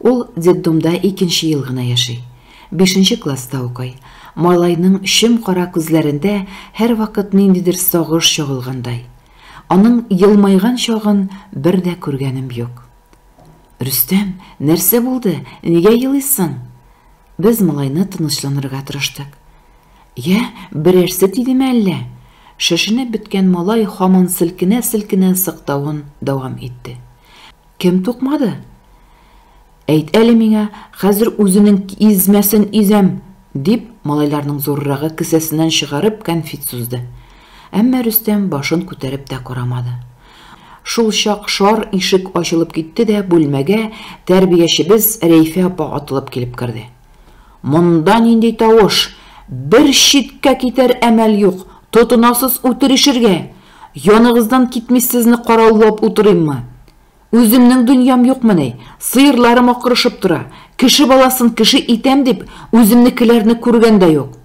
Ул детдомда икенче ел гына яши. Бишенче класста укый. Малайның чем-кара күзләрендә һәрвакыт ниндидер сагыш чагылгандай. Аның елмайган чагын бер дә күргәнем юк. Рөстәм, нәрсә булды, нигә елыйсың? Без малайны тынычланырга тырыштык. Я, берәрсе тидеме әллә? Шешенеп беткән малай һаман селкенә-селкенә сыктавын дәвам итте. Кем тукмады? Әйт әле миңа, хәзер үзенең измәсен изәм! дип, малайларның зуррагы кесәсеннән чыгарып кәнфит сузды. Әмма Рөстәм башын күтәреп тә карамады. Шул чак шар ишек ачылып китте дә бүлмәгә тәрбиячебез Рәйфә апа атылып килеп керде. Монда нинди тавыш? Бер читкә китәр әмәл юк, тотынасыз үтерешергә! Яныгыздан китми сезне караулап утырыйммы? Үземнең дөньям юкмы ни? Сыерларым акырышып тора. Кеше баласын кеше итәм дип, үземнекеләрне күргән дә юк.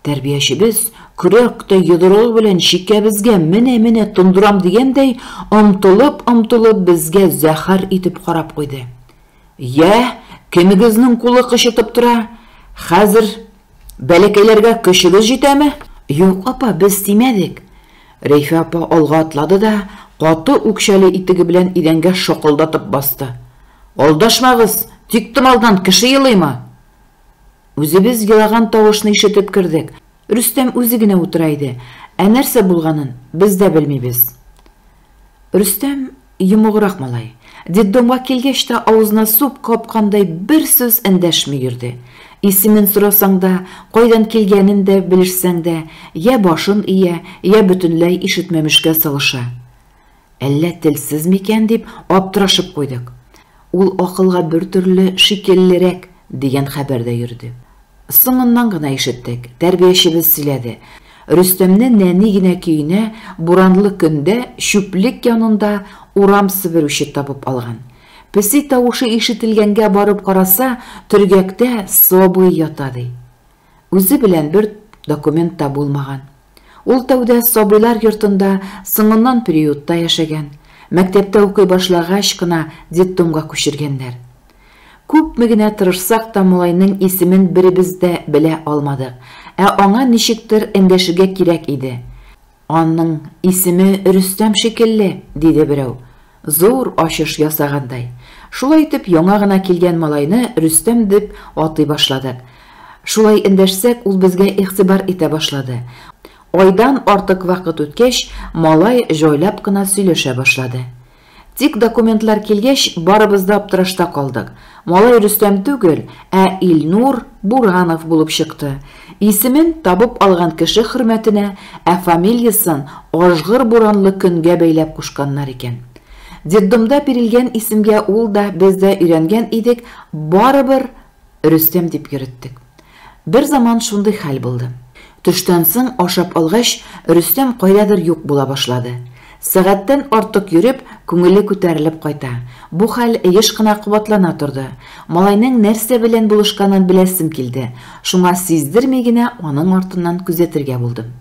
Тәрбиячебез, көрәк тә йодрыгы белән чикәбезгә менә-менә тондырам дигәндәй, омтылып-омтылып безгә зәһәр итеп карап куйды. Йә, кемегезнең кулы кычытып тора? Хәзер Бәләкәйләргә көчегез җитәме? Юк, апа, без тимәдек. Рәйфә апа алга атлады да каты үкчәле итеге белән идәнгә шакылдатып басты. Алдашмагыз, тиктомалдан кеше елыймы? Үзебез елаган тавышны ишетеп кердек. Рөстәм үзе генә утыра иде, ә нәрсә булганын без дә белмибез. Рөстәм, йомыграк малай, детдомга килгәч тә авызына суп капкандай бер сүз эндәшми йөрде. Исемен сорасаң да, кайдан килгәнен дә белешсәң дә, йә башын ия, йә бөтенләй ишетмәмешкә салыша. Әллә телсез микән дип аптырашып куйдык. Ул акылга бертөрле шикеллерәк, дигән хәбәр дә йөрде. Соңыннан гына ишеттек, тәрбиячебез сөйләде. Рөстәмне нәни генә көенә буранлы көндә чүплек янында урам себерүче табып алган. Песи тавышы ишетелгәнгә барып караса, төргәктә сабый ята, ди. Үзе белән бер документ та булмаган. Ул тәүдә сабыйлар йортында, соңыннан приютта яшәгән. Мәктәптә укый башлагач кына детдомга күчергәннәр. Күпме генә тырышсак та малайның исемен беребез дә белә алмадык. Ә аңа ничектер эндәшергә кирәк иде. Аның исеме Рөстәм шикелле, диде берәү. Зур ачыш ясагандай. Шулай итеп, яңа гына килгән малайны Рөстәм дип атый башладык. Шулай эндәшсәк, ул безгә игътибар итә башлады. Айдан артык вакыт үткәч, малай җайлап кына сөйләшә башлады. Тик документлар килгәч, барыбыз да аптырашта калдык. Малай Рөстәм түгел, ә Илнур Буранов булып чыкты. Исемен табып алган кеше хөрмәтенә, ә фамилиясен ажгыр буранлы көнгә бәйләп кушканнар икән. Детдомда бирелгән исемгә ул да, без дә өйрәнгән идек, барыбер Рөстәм дип йөреттек. Берзаман шундый хәл булды. Төштән соң ашап алгач, Рөстәм кайдадыр юк була башлады. Сәгатьтән артык йөреп, күңеле күтәрелеп кайта. Бу хәл еш кына кабатлана торды. Малайның нәрсә белән булышканын беләсем килде, шуңа сиздерми генә аның артыннан күзәтергә булдым.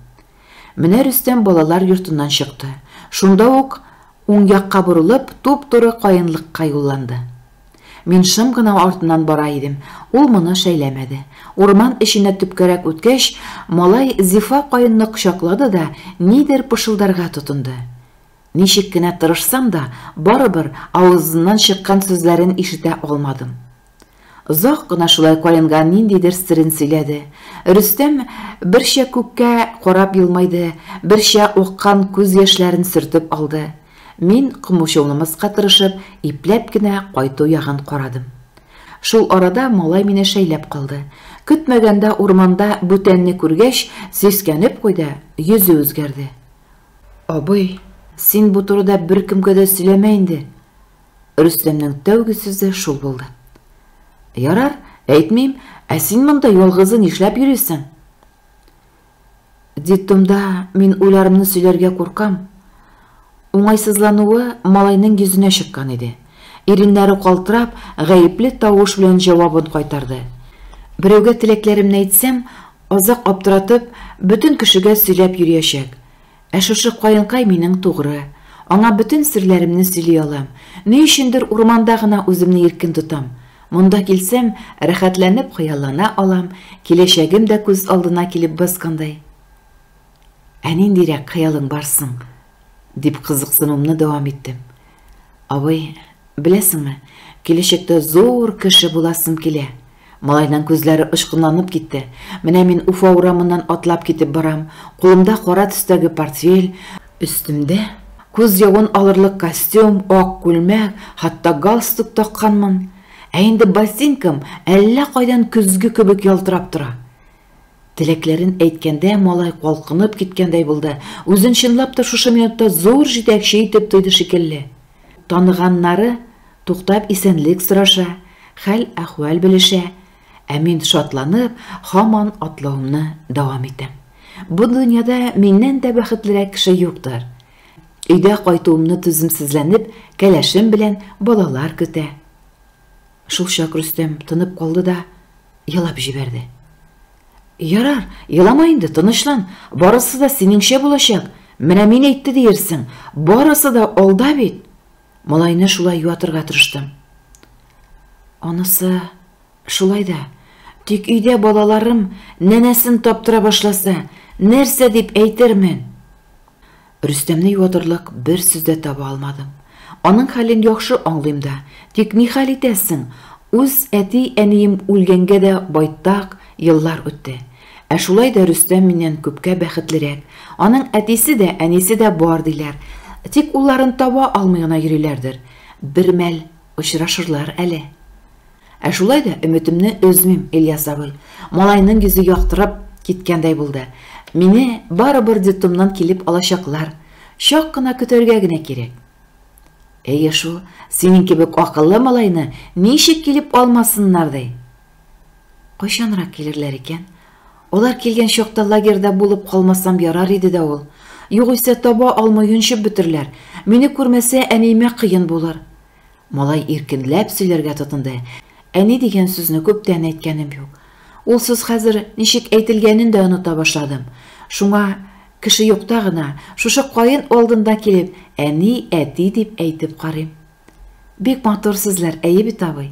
Менә Рөстәм балалар йортыннан чыкты. Шунда ук уң якка борылып, туп-туры каенлыкка юлланды. Мин шым гына артыннан бара идем. Ул моны шәйләмәде. Урман эченә төпкәрәк үткәч, малай Зифа каенны кочаклады да нидер пышылдарга тотынды. Ничек кенә тырышсам да, барыбер авызыннан чыккан сүзләрен ишетә алмадым. Озак кына шулай каенга ниндидер серен сөйләде. Рөстәм берчә күккә карап елмайды, берчә аккан күз яшьләрен сөртеп алды. Мин, комучылнымаска тырышып, ипләп кенә кайту ягын карадым. Шул арада малай мине шәйләп калды. Көтмәгәндә урманда бүтәнне күргәч, сискәнеп куйды, йөзе үзгәрде. Абый, син бу турыда беркемгә дә сөйләмә инде. Рөстәмнең тәүге сүзе шул булды. Ярар, әйтмим, ә син монда ялгызы нишләп йөрисең? Детдомда мин уйларымны сөйләргә куркам. Уңайсызлануы малайның йөзенә чыккан иде. Иреннәре калтырап, гаепле тавыш белән җавабын кайтарды. Берәүгә теләкләремне әйтсәм, азак аптыратып, бөтен кешегә сөйләп йөриячәк. Ә шушы каенкай минең тугры. Аңа бөтен серләремне сөйли алам. Ни өчендер урманда гына үземне иркен тотам. Монда килсәм, рәхәтләнеп хыяллана алам, киләчәгем дә күз алдына килеп баскандай. Ә ниндирәк хыялың бар соң? дип кызыксынуымны дәвам иттем. Абый, беләсеңме, киләчәктә зур кеше буласым килә. Малайның күзләре очкынланып китте. Менә мин Уфа урамыннан атлап китеп барам, кулымда кара төстәге портфель, өстемдә күз явын алырлык костюм, ак күлмәк, хатта галстук такканмын. Ә инде ботинкам әллә кайдан көзге кебек ялтырап тора. Теләкләрен әйткәндә, малай калкынып киткәндәй булды. Үзен чынлап та шушы минутта зур җитәкче итеп тойды шикелле. Таныганнары туктап исәнлек сораша, хәл-әхвәл белешә, ә мин шатланып, һаман атлавымны дәвам итәм. Бу дөньяда миннән дә бәхетлерәк кеше юктыр. Өйдә кайтуымны түземсезләнеп, кәләшем белән балалар көтә. Шулчак Рөстәм тынып калды да, елап җибәрде. Ярар, елама инде, тынычлан, барысы да синеңчә булачак. Менә мин әйтте диерсең, барысы да алда бит. Малайны шулай юатырга тырыштым. Анысы шулай да, тик өйдә балаларым нәнәсен таптыра башласа, нәрсә дип әйтермен? Рөстәмне юатырлык бер сүз дә таба алмадым. Аның хәлен яхшы аңлыйм да, тик ни хәл итәсең, үз әти-әнием үлгәнгә дә байтак еллар үтте. Ә шулай да Рөстәм миннән күпкә бәхетлерәк. Аның әтисе дә, әнисе дә бар, диләр. Тик улларын таба алмый гына йөриләрдер. Бермәл очрашырлар әле. Ә шулай да өметемне өзмим, Ильяс абый. Малайның йөзе яктырып киткәндәй булды. Мине барыбер детдомнан килеп алачаклар. Чак кына көтәргә генә кирәк. Әйе шул, синең кебек акыллы малайны ничек килеп алмасыннар ди? Кайчанрак килерләр икән? Алар килгән чакта лагерьда булып калмасам ярар иде дә ул. Югыйсә таба алмый йончып бетерләр. Мине күрмәсә, әниемә кыен булыр. Малай иркенләп сөйләргә тотынды, Әни дигән сүзне күптән әйткәнем юк. Ул сүз хәзер ничек әйтелгәнен дә оныта башладым. Шуңа, кеше юкта гына, шушы каен алдында килеп, әни, әти дип әйтеп карыйм. Бик матур сүзләр, әйе бит, абый?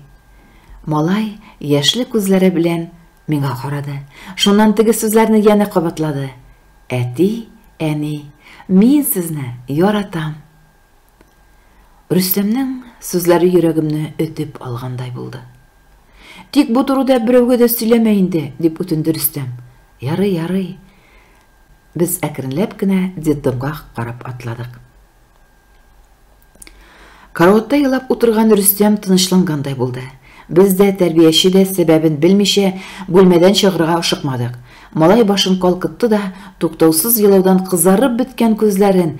Малай яшьле күзләре белән миңа карады. Шуннан теге сүзләрне янә кабатлады. Әти, әни, мин сезне яратам. Рөстәмнең сүзләре йөрәгемне өтеп алгандай булды. Тик бу турыда берәүгә дә сөйләмә инде, дип үтенде Рөстәм. Ярый, ярый. Без әкренләп кенә детдомга карап атладык. Караватта елап утырган Рөстәм тынычлангандай булды. Без дә, тәрбияче дә сәбәбен белмичә, бүлмәдән чыгарга ашыкмадык. Малай башын калкытты да, туктаусыз елаудан кызарып беткән күзләрен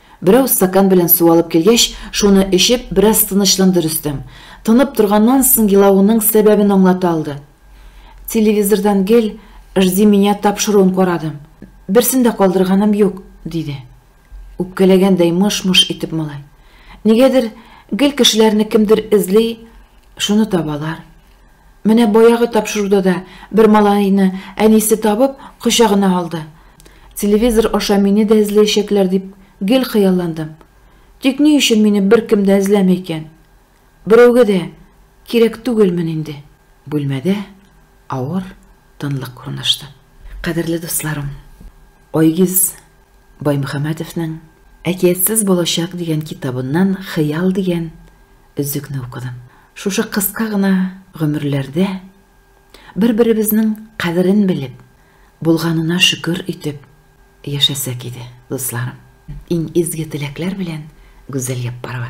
Берәү стакан белән су алып килгәч, шуны эчеп, бераз тынычланды Рөстәм. Тынып торганнан соң елавының сәбәбен аңлата алды. Телевизордан гел Жди меня тапшыруын карадым. Берсен дә калдырганым юк, диде. Үпкәләгәндәй мыш-мыш итеп малай. Нигәдер, гел кешеләрне кемдер эзли, шуны табалар. Менә баягы тапшыруда да бер малайны әнисе табып, кочагына алды. Телевизор аша мине дә эзләячәкләр дип гел хыялландым. Тик ни өчен мине беркем дә эзләми икән? Берәүгә дә кирәк түгелмен инде. Бүлмәдә авыр тынлык урнашты. Кадерле дусларым, Айгиз Баймөхәммәтовның Әкиятсез балачак дигән китабыннан хыял дигән Өзекне укыдым. Шушы кыска гына гомерләрдә бер-беребезнең кадерен белеп, булганына шөкер итеп яшәсәк иде, дусларым. Иң изге теләкләр белән, Гүзәл Яппарова.